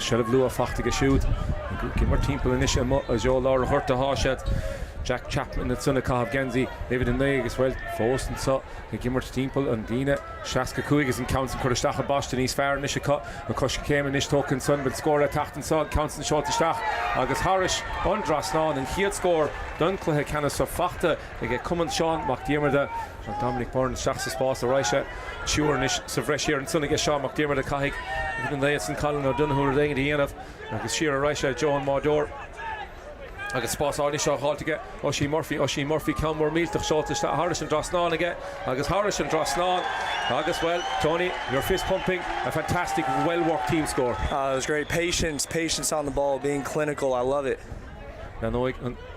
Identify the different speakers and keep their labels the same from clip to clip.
Speaker 1: Seilbh luath fachta aige siúd. Ag imirt timpeall anois amuigh i dtreo lár an ghoirt athá siad. Jack Chapman ansan ag caitheamh geansaí uimhir a naoi agus, bhuel, fós anso ag imirt timpeall an líne seasca a cúig agus an ceann san curtha isteach i bpaiste níos fearr anois acu. Na coiscéime anois tógtha ansan. Bhfuil scór ag teacht anso? An ceann san seolta isteach agus thairis an dtrasnán. An chéad scór don chluiche ceannais seo fachta. Aige Cumann Seán Mac Diarmada, Seán Dominic Byrne isteach sa spás ar aghaidh sé triúir anois sa bhreis thiar ansan aige Seán Mac Diarmada caithfidh uimhir a naoi ansan Colin O'Donoghue rud éigin a dhéanamh agus siar ar aghaidh sé i dtreo an mbáideoir agus spás anois á dh'fháilt aige Oisín Murphy, Oisín Murphy ceann mór millteach seolta isteach thairis an dtrasnán aige agus thairis an dtrasnán agus bhuel Tony you're fist pumping a fantastic well worked team score. It was great patience,
Speaker 2: patience on the ball, being clinical, I love it. Leanfaidh an.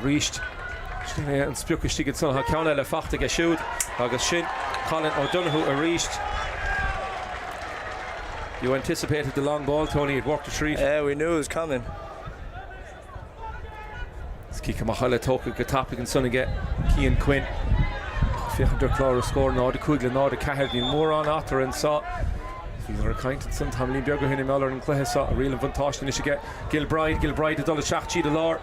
Speaker 1: arís. Sin é an sprioc istigh ansan. Tá ceann eile fachta aige siúd agus sin Colin O'Donoghue arís. You anticipated the long ball, Tony, it worked a treat. Yeah, we knew it was coming. Is cic amach eile tógtha go tapaidh ansan aige Cian Quinn. Féachaint ar chlár na scór, 0-5 le 0-4. Níl mórán eatarthu anso. Bhíodar ag caint ansan tamaillín beag ó shin i mBéarla ar an cluiche seo. Riail an bhuntáiste anois aige Gilbride. Gilbride ag dul isteach tríd an lár.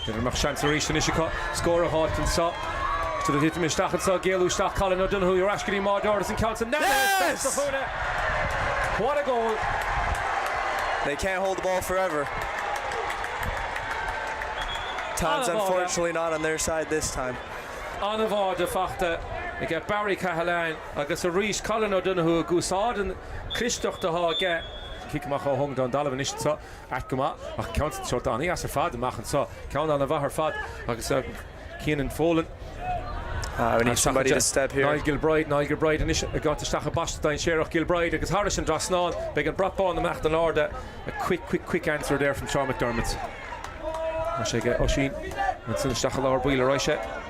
Speaker 2: B'fhéidir go mbeadh seans arís anois
Speaker 1: acu scór a dh'fháilt anso. Cad a thiteann isteach anso? Géilleadh isteach Colin O'Donoghue ar ais go dtí an mbáideoir agus an ceann san aithne ar Stailc Ó Chúile. What a goal!
Speaker 2: They can't hold the ball forever. Time's unfortunately not on their side this time.
Speaker 1: An-bháide fachta aige Barry Cahalane agus arís Colin O'Donoghue ag úsáid an clisteacht atá aige. Cic amach ó Hung Don Donovan anois anso. Ait go maith, ach ceann seolta an-dheas ar fad amach anso. Ceann an-mhaith ar fad agus Cianan Folan,
Speaker 2: Niall Gilbride, Niall Gilbride
Speaker 1: anois ag gabháilt isteach i bpaiste dainséarach, Gilbride agus thairis an dtrasnán, beidh an brat bán amach in airde, a quick, quick, quick answer there from Seán McDermott. Tá sé aige, Oisín, ansin isteach i lár baill ar aghaidh sé.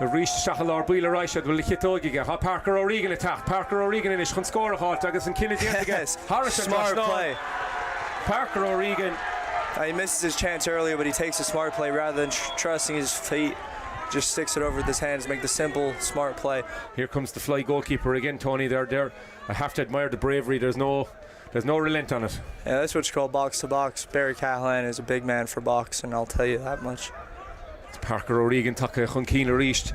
Speaker 1: Arís isteach i lár baill ar aghaidh siad, bhuel na chiotóig aige. Tá Parker O'Regan ag teacht. Parker O'Regan anois chun scór a fháilt agus an cinneadh déanta aige thairis an trasnán.
Speaker 2: Parker
Speaker 1: O'Regan. He misses
Speaker 2: his chance earlier but he takes a smart play rather than trusting his feet. Just sticks it over with his hands, make the simple smart play. Here comes the fly
Speaker 1: goalkeeper again Tony there there. I have to admire the bravery there's no There's no relent on it. Yeah, that's what you call
Speaker 2: box to box. Barry Cahalane is a big man for boxing, I'll tell you that much. Is Parker
Speaker 1: O'Regan tagtha chun cinn arís.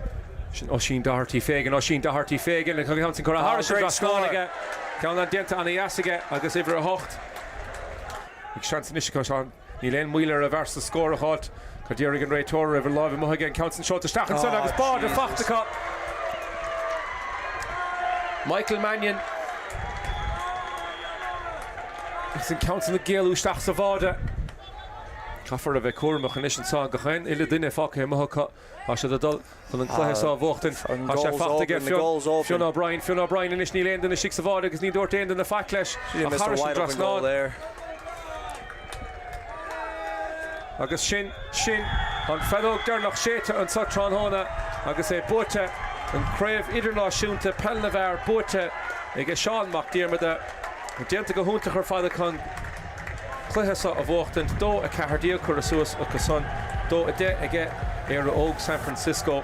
Speaker 1: Sin Oisín Doherty Fagan. Oisín Doherty Fagan an ceann san curtha thairis an dtrasnán aige. Ceann san déanta ana dheas aige agus uimhir a hocht ag seans anois acu. Níl aon mhoill ar an bhfear so scór a dh'fháilt. Cad déarfaidh an réiteoir roimh a láimh amuigh aige an ceann san seolta isteach ansan agus báide fachta acu. Michael Mannion agus an ceann san ag géilleadh isteach sa bháide. Caithfear a bheith cúramach anois anso gach aon uile duine fágtha amuigh acu. Tá siad ag dul chun an cluiche seo a bhuachtaint. Tá sé fachta aige, Fionn O'Brien. Fionn O'Brien anois, níl aoinne istigh sa bhád agus ní dúirt aoinne faic leis. Ach trasna an trasnán. Agus sin, sin an feadóg deireanach séidte anseo tráthnóna agus é buaite, an Craobh Idirnáisiúnta Peil na bhFear buaite aige Seán Mac Diarmada. Déanta go hiontach ar fad chun an. cluiche so a bhuachtaint. Dó 14 curtha suas acusan. Dó 10 aige Éire Óg San Francisco.